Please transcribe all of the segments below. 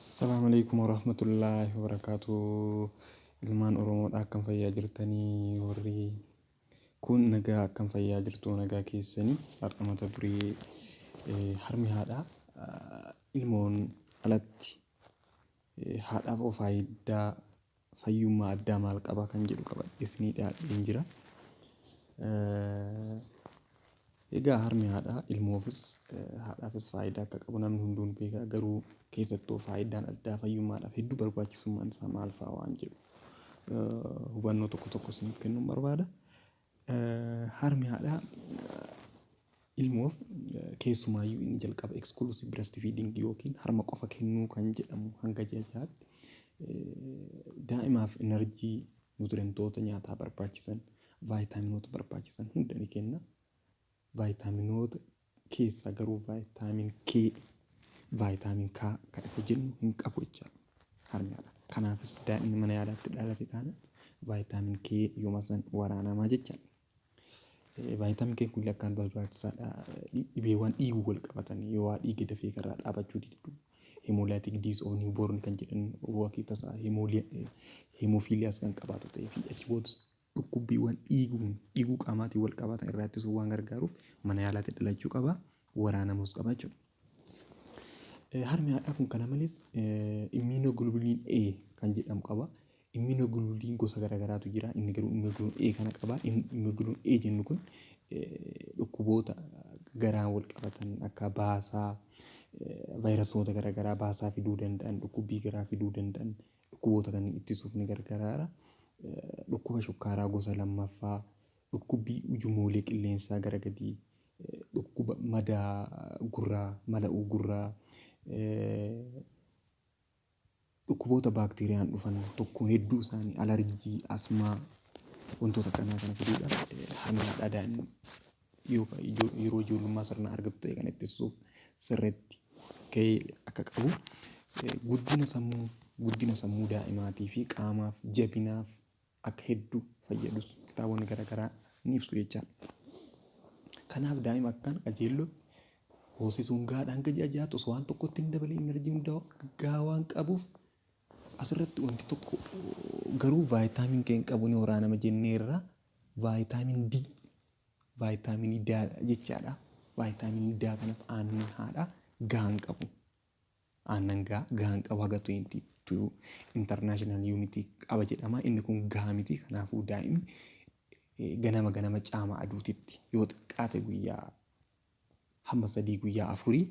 Assalaamu Aleeykum Warahmatullaahi Wabarakaatuh Ilmaan Oromoodhaa akkam fayyaa jirtanii warri kun nagaa akkam fayyaa jirtuu nagaa keessanii har'a mata duree eh, harmi haadhaa ah, ilmoon alatti eh, haadhaaf of faayidaa fayyummaa addaa maal qaba kan jedhu qabadhee isinii dhiyaadheen jira. Egaa harmi haadhaa ilmoofis haadhaafis faayidaa akka qabu namni hunduu ni beeka garuu keessattuu faayidaan addaa fayyummaadhaaf hedduu barbaachisummaan isaa maal fa'a waan jedhu hubannoo tokko tokko isiniif kennuun barbaada. Harmi haadhaa ilmoof keessumaayyuu inni jalqaba exclusive breastfeeding yookiin harma qofa kennuu kan jedhamu hanga ji'a jahaatti daa'imaaf energy nutrientoota nyaataa barbaachisan vaayitaaminoota barbaachisan hunda ni kenna. Vaayitaaminoota keessaa garuu vaayitaamin K, vaayitaamin K kan isa jennu hin qabu jechaadha. Harmeedha. Kanaafis daa'imni mana yaalaatti dhalate taana vaayitaamin K yooma san waraanamaa jechaadha. Vaayitaamin K kun lakkaan barbaachisaadha. Dhibeewwan dhiigu wal qabatan yoo waa dhiige dafee karraa dhaabachuu diddu. Hemolytic disorder newborn kan jedhan wakiita isaa hemophilias kan qabaatu ta'ee fi achi boodas Dhukkubbiiwwan dhiiguun dhiiguu qaamaatiin wal qabaatan irraa ittisuuf waan gargaaruuf mana yaalaatti dhalachuu qaba, waraanamuus qaba jechuudha. Eh, Harmi haadhaa kun kana malees eh, immunoglobulin A kan jedhamu qaba. Immunoglobulin gosa garaagaraatu jira. Inni garuu immunoglobulin A kana qaba. Im- Immunoglobulin A jennu kun eh, dhukkuboota garaan wal qabatan akka baasaa, eh, vaayirasoota garaagaraa baasaa fiduu danda'an, dhukkubbii garaa fiduu danda'an, dhukkuboota kanneen ittisuuf ni gargaraara. Dhukkuba shukkaaraa gosa lammaffaa, dhukkubbii ujumoolee qilleensaa gara gadii, dhukkuba madaa gurraa, mala'uu gurraa, dhukkuboota baakteeriyaan dhufan tokko hedduu isaanii alarjii, asmaa wantoota akkanaa kana fiduudha. Harmi haadhaa daa'ima. yookaan yeroo ijoollummaa sirna argattu ta'e kan ittisuuf sirriitti gahee akka qabu guddina sammuu guddina sammuu daa'imaatii fi qaamaaf jabinaaf akka hedduu fayyadus kitaabonni garaagaraa ni ibsu jechaadha. Kanaaf daa'ima akkaan qajeellotti hoosisuun gaadha hanga ji'a jaatti osoo waan tokkotti hin dabalin enerjii hundaa gaa waan qabuuf asirratti wanti tokko garuu vaayitaamin kee hin qabu ni waraanama jennee irraa vaayitaamin D Vaayitaaminii D jechaadha. Vaayitaaminii D kanaf aannan haadha gahaan qabu. Aannan gaa gahaan qabu haga 22 international unit qaba jedhama. Inni kun gahaa miti. Kanaafuu daa'imni eh, ganama ganama caama aduutitti yoo xiqqaate guyyaa hamma sadii guyyaa afurii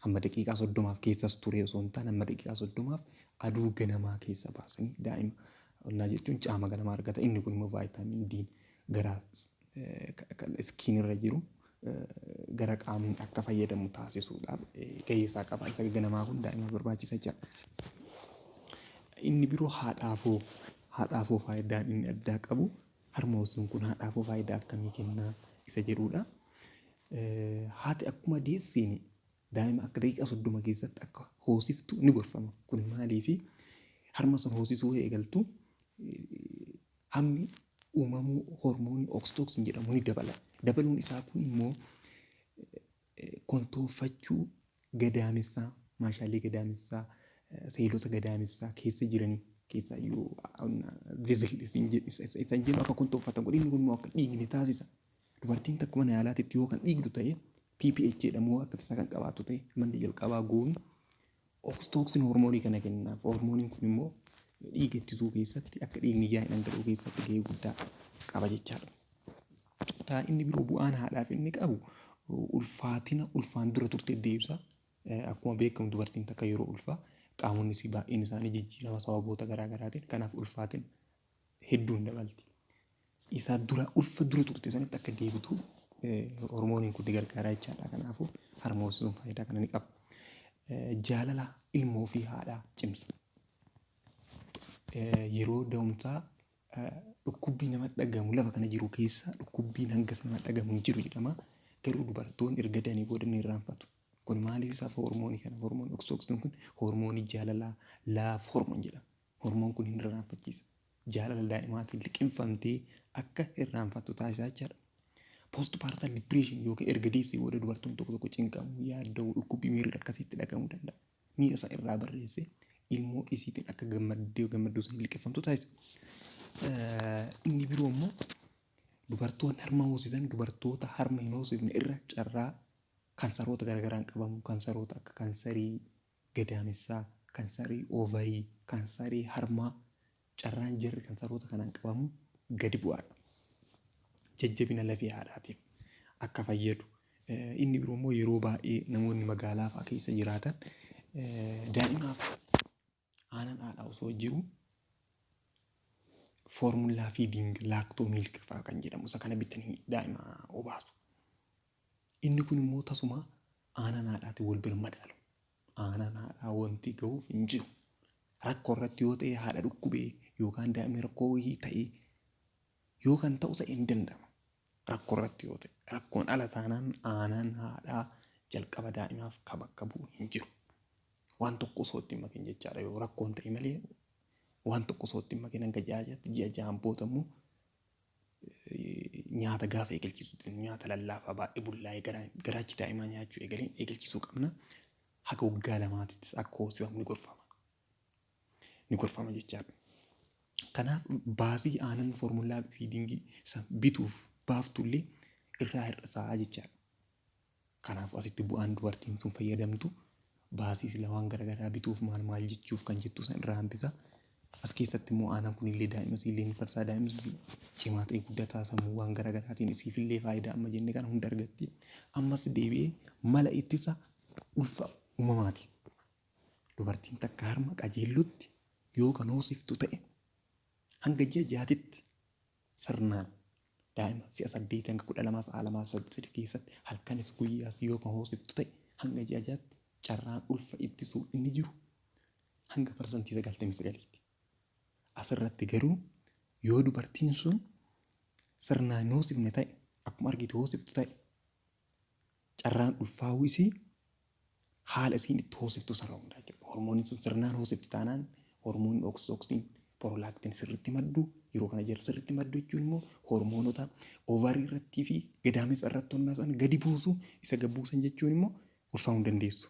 hamma daqiiqaa soddomaaf keessas turee osoo hin taane hamma daqiiqaa soddomaaf aduu ganamaa keessa baasanii daa'ima onnaa jechuun caama ganamaa argata inni kun immoo vaayitaamin diin gara iskiin irra jiru gara qaamni akka fayyadamu taasisuudhaaf gahee isaa qaba isa ganamaa kun daa'ima barbaachisa jira. Inni biroo haadhaafoo haadhaafoo faayidaan inni addaa qabu Harmoosuun kun haadhaafoo faayidaa akkamii kennaa isa jedhuudha. Haati akkuma deesseen daa'ima akka daqiiqaa soddoma keessatti akka hoosiftu ni gorfama. Kun maaliifi harma sun hoosisuu eegaltu hammi uumamuu hormoonii oksitooksiin jedhamu ni dabala. Dabaluun isaa kun immoo kontoonfachuu gadaamessaa maashaalee gadaamessaa seelota gadaamessaa keessa jiranii keessaa iyyuu vizil isin jennu akka kontoonfatan godhe inni kun immoo akka dhiigne taasisa. Dubartiin takka mana yaalaatitti yoo kan dhiigdu ta'e PPH jedhamu akka tasaa kan qabaattu ta'e manni jalqabaa goonu Okstooksiin hormoonii kana kennaaf. Hormooniin kun immoo dhiiga ittisuu keessatti akka dhiigni yaa'e dhangala'uu keessatti gahee guddaa qaba jechaadha. Taa inni biroo bu'aan haadhaaf inni qabu ulfaatina ulfaan dura turte deebisa. Akkuma beekamu dubartiin takka yeroo ulfaa qaamonni isii baay'een isaanii jijjiirama sababoota garaa garaatiin kanaaf ulfaatina hedduun dabalti. Isaa dura ulfa dura turte sanitti akka deebituuf hormooniin kun ni gargaara jechaadha. Kanaafuu harmoosisuun faayidaa kana ni qaba. Jaalala ilmoo fi haadhaa cimsa. Yeroo da'umsaa dhukkubbii nama dhagamu lafa kana jiru keessa dhukkubbiin hangas nama dhagamu hin jiru jedhama. Garuu dubartoonni erga da'anii booda ni irraanfatu. Kun maaliif isaaf hormoonii kana hormoonii oksitooksitoon kun hormoonii jaalalaa laaf hormoon jedhama. Mormuun kun hin irraanfachiisa. Jaalala daa'imaatiin liqimfamtee akka irraanfattu taasisaa jechaadha. Postpartal depression yookiin erga deessee booda dubartoonni tokko tokko cinqamuu, yaadda'uu, dhukkubbii miirri akkasii itti dhaga'amuu danda'a. Miira isaa irraa barreessee ilmoo isiitiin akka gammaddee gammadduu sana liqimfamtu taasisa. Inni biroo immoo dubartoonni harma hoosisan dubartoota harma hin hoosifne irra carraa kansaroota garaagaraan qabamu kansaroota akka kansarii gadaamessaa, kansarii oovarii, kansarii harmaa, carraan jarri kansaroota kanaan qabamu gadi bu'aadha. Jajjabina lafee haadhaatiif akka fayyadu. Inni biroo immoo yeroo baay'ee namoonni magaalaa fa'aa keessa jiraatan daa'imaaf aanan haadhaa osoo jiru foormullaa fiidiing laaktoo miilk fa'aa kan jedhamu isa kana bitanii daa'ima obaasu. Inni kun immoo tasumaa aanaan haadhaatiin wal bira madaalu. Aanaan haadhaa wanti gahuuf hin jiru. Rakkoo irratti yoo ta'e haadha dhukkubee yookaan daa'imni rakkoo wayii ta'ee yoo kan ta'u ta'e hin danda'ama. Rakkoo irratti yoo ta'e rakkoon ala taanaan aanaan haadhaa jalqaba daa'imaaf ka bakka bu'u hin jiru. Waan tokko osoo itti hin makin jechaadha yoo rakkoon ta'e malee waan tokko osoo itti hin makin hanga ji'a jahaatti ji'a jahaan booda immoo nyaata gaafa eegalchiisu nyaata lallaafaa baay'ee bullaa'ee garaachi daa'imaa nyaachuu eegaleen eegalchiisuu qabna. Haga waggaa lamaatittis akka hoosifamu ni gorfama. Ni gorfama jechaadha. Kanaaf baasii aanan foormulaa fiidingii san bituuf baaftullee irraa hir'isaa jechaadha. Kanaafuu asitti bu'aan dubartiin tun fayyadamtu baasii sila waan gara garaa bituuf maal maal jechuuf kan jettu san irraa hambisa. As keessatti immoo aanan kunillee daa'ima isiillee ni farsaa daa'imnis isii cimaa ta'e guddataa sammuu waan gara garaatiin isiifillee faayidaa amma jenne kana hunda argatti. Ammas deebi'ee mala ittisa ulfa uumamaati. Dubartiin takka harma qajeellutti yoo kan hoosiftu ta'e hanga ji'a ja'atitti Sirnaan. Daa'ima si'a 8 hanga 12 sa'a 2 fi 3 keessatti halkanis guyyaas yoo kan hoosiftu ta'e hanga ji'a 6tti carraan ulfa ittisuu inni jiru hanga parsantii 99 tti. Asirratti garuu yoo dubartiin sun sirnaan hin hoosifne ta'e akkuma argitu hoosiftu ta'e carraan ulfaa'uu isii Haala isiin itti hoosiftu sana hundaa jedhu. Hormooniin sun sirnaan hoosifti taanaan hormooniin oksitooksiin, poroolaaktiin sirriitti maddu. Yeroo kana jala sirriitti maddu jechuun immoo hormoonota ovarii irrattii fi gadaamessa irratti honnaa sana gadi buusu. Isa gad buusan jechuun immoo ulfaa'uu hin dandeessu.